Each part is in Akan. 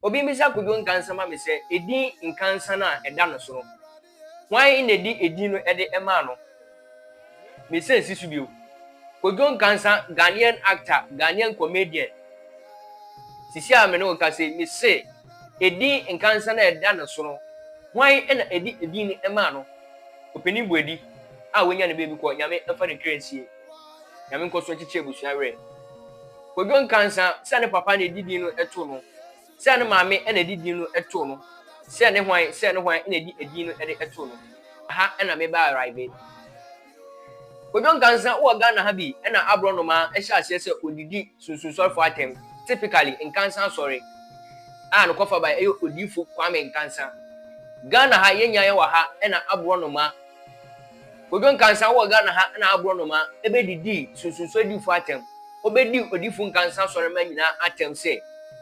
Obi mmisa Kwadwo Nkansah ma me sɛ, edin Nkansah no a ɛda no so no, hwan na edi edin no de maa no? Mesan si so bio. Kwadwo Nkansah, Ghanaian actor, Ghanaian comedian. Sisi a me ne wo rekasa yi, mise edin Nkansah no a ɛda no so no, hwan na edi edin no maa no? Opanin Boadi a wanya ne baabi kɔ, Nyame mfa ne kra nsie. Nyame nkɔ so nkyekye abusua werɛ. Kodwo Nkansah, sɛ ne papa na ɛdi din no too no, sɛ ne maame na ɛdi din no too no, sɛ ne hwan, sɛ ne hwan na ɛdi ɛdin no de too no. Aha na me ba arrive. Kodwo Nkansah wɔ Ghana ha bi na aborɔnoma hyɛ aseɛ sɛ ɔdidi sunsunsɔrefoɔ atɛm, typically Nkansah Asɔre, a ne kɔfabae yɛ Odiifo Kwame Nkansah. Ghana ha yɛnnya yɛn wɔ ha na aborɔnoma Kojo Nkansah wɔ Ghana ha na aborɔnoma bedidii sunsunso adifo atɛm. Obedii odifo Nkansah asɔremma nyinaa atɛm sɛ,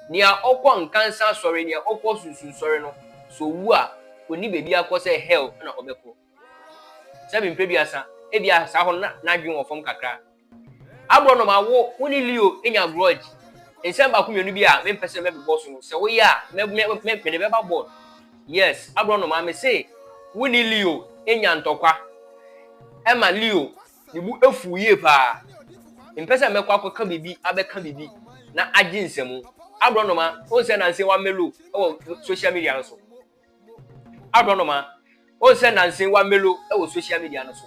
Nea ɔkɔ Nkansah asɔre, nea ɔkɔ sunsunsɔre no, sɛ owu a, onni baabi akɔ sɛ hell na ɔbɛkɔ. Sɛ me mpeduasa, ebia saa hɔ no na n'adwene wɔ fam kakra. Agorɔnoma wo wo ne Leo anya grudge? Nsɛm baako mmienu bi a mempɛ sɛ mɛbobɔ so no, sɛ woyɛ a, mɛ mɛ mɛ mede bɛba board. Yes, agorɔnoma me se wo ne Leo anya ntɔkwa. Ɛma Leo ne bo afuw yie paa. Mempɛ sɛ mɛkɔ akɔka biribi abɛka biribi na agye nsɛmu. Agorɔnoma, wohu sɛ nanse woamelo wɔ social media no so? aborɔnoma wɔn sɛ nansa yi wa melo wɔ social media no so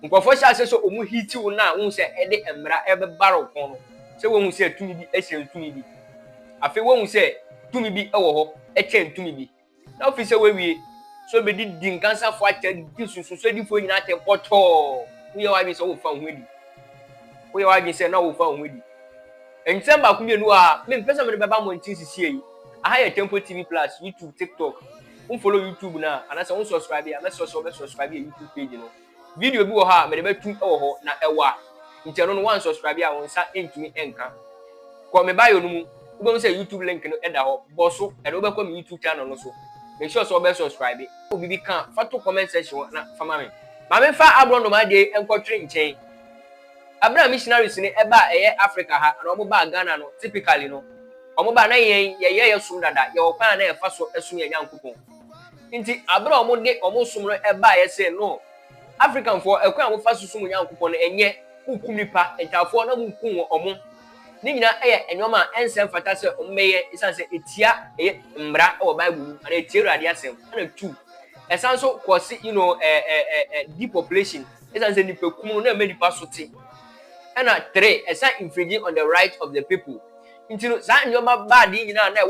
nkurɔfoɔ hyɛ ase sɛ wɔn hiti wo no a wɔn sɛ ɛde mmara ɛbɛbara wo kɔn no sɛ wɔn sɛ tumi bi ɛkyɛn tumi bi afei wɔn sɛ tumi bi ɛwɔ hɔ ɛkyɛn tumi bi na ofi sɛ wɔawie so bɛdi di nkansafo atɛ di sunsunso adifoɔ nyinaa atɛ pɔtɔɔ woyɛ w'adwene sɛ wɔfa ho adi woyɛ w'adwene sɛ na wɔfa ho adi Nsɛm baako mmienu a me mpɛ sɛ mede bɛba mmɔnten sesie yi, aha yɛ Temple TV Plus, YouTube, TikTok, wo follow YouTube no a, anaasɛ wo subscribe a, mɛsrɛ sɛ wobɛ subscribe yɛ YouTube page no. Video bi wɔ hɔ a mede bɛtu wɔ hɔ, na ɛwa, nti ɛno no woansubscribe a wo nsa ntumi nka. Kɔ me bio no mu, wobɛhu sɛ YouTube link no da hɔ, bɔ so, ɛde wobɛkɔ me YouTube channel no so. Make sure sɛ wobɛ subscribe. Wɔ biribi ka a, fa to comment section hɔ na fa ma me. Ma memfa aborɔnoma adeɛ yi nkɔtwere nkyɛn. Aber a missionaries no ɛba a ɛyɛ Africa ha anaa ɔmo baa Ghana no typically no ɔmo ba a na yɛn yɛyɛ yɛ som dada yɛwɔ kwan a na yɛfa so ɛsom yɛn Nyankopɔn nti aber a ɔmo de ɔmo som no ɛbaa yɛ see no African foɔ ɛkwan a ɔmo fa so som wɔn Nyankopɔn no ɛnyɛ mo kum nipa ntaafoɔ na mo nkum wɔn ɔmo ne nyinaa ɛyɛ nnoɔma a ɛnsɛ mfata sɛ ɔmo bɛyɛ esan sɛ etia ɛyɛ mmra ɛwɔ bible mu anaa etia Awurade asɛm ɛna two ɛsan so kɔsi you know ɛɛ ɛɛ ɛɛ depopulation. Esiane sɛ nnipakum no na ɛma nnipa so te, ɛna three ɛsan infringe on the right of the people nti no, saa nneɛma baade yi nyinaa na ɛwɔ.